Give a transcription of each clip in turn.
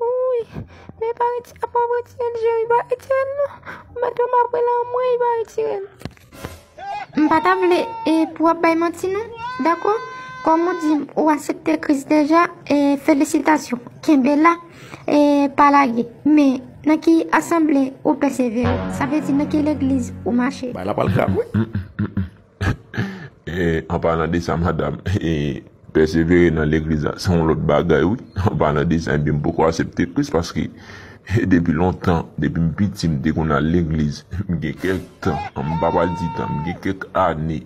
Wouuyy men epa retire apa wap retirel jere epa retirel non ou met loma pre la anmweyy epa retirel. M pa ta vle e pou ap bay manti non dako kom ou dim ou asepte kris deja e felisitasyon kenbe la e pa lage men nan ki asanble ou pèsevere sa vle di nan ki legliz ou mache. Bay la pral krape wi. An palan de sa madam, pèsevere nan legliz la se yon lòt bagay wi. An palan de sa ebyen m poko asepte kris paske depi lontan, depi m piti m te konn al legliz. M gen kèk tan, m pa pral di tan, m gen kèk ane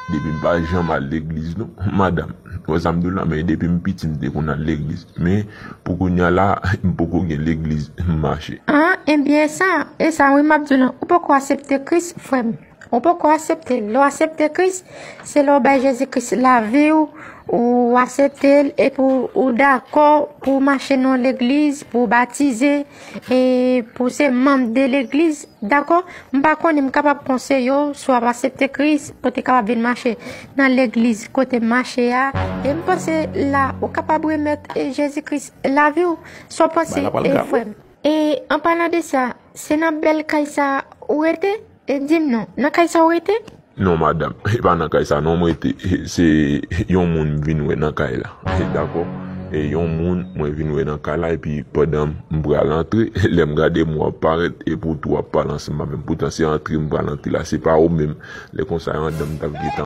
depi m pa janm al legliz non madam. Ou wè sa m di w la, men depi m piti m te konn al legliz. Men pou kounya la m poko gen legliz m mache. An ebyen sa, e sa wi m ap di w lan, ou poko asepte kris frè m. Ou poko asepte l. Lè w asepte Kris, se lè w bay Jezi Kris lavi w, ou asepte l epi ou dakò pou w mache nan yon legliz, pou w batize, e pou w se manm de legliz, dakò? M pa konnen, m kapab konseye w, si w ap asepte Kris, ou te kapab vin mache nan legliz kote m mache a. E m panse la ou kapab remèt Jezi Kris lavi w. Sa w panse, frè m? E anpalan de sa, se nan bèl kay sa a ou rete? E di m non, nan kay sa w rete? Non madam, e pa nan kay sa non m rete. Se yon moun m vin wè nan kay la. Dakò, e yon moun mwen vin wè nan kay la epi pandan m pral antre, lè m gade mwen ap parèt e pou w tou ap pale ansanm avè m. Poutan se antre m pral antre la, se pa ou menm. Lè konsa yon dan m t ap gentan.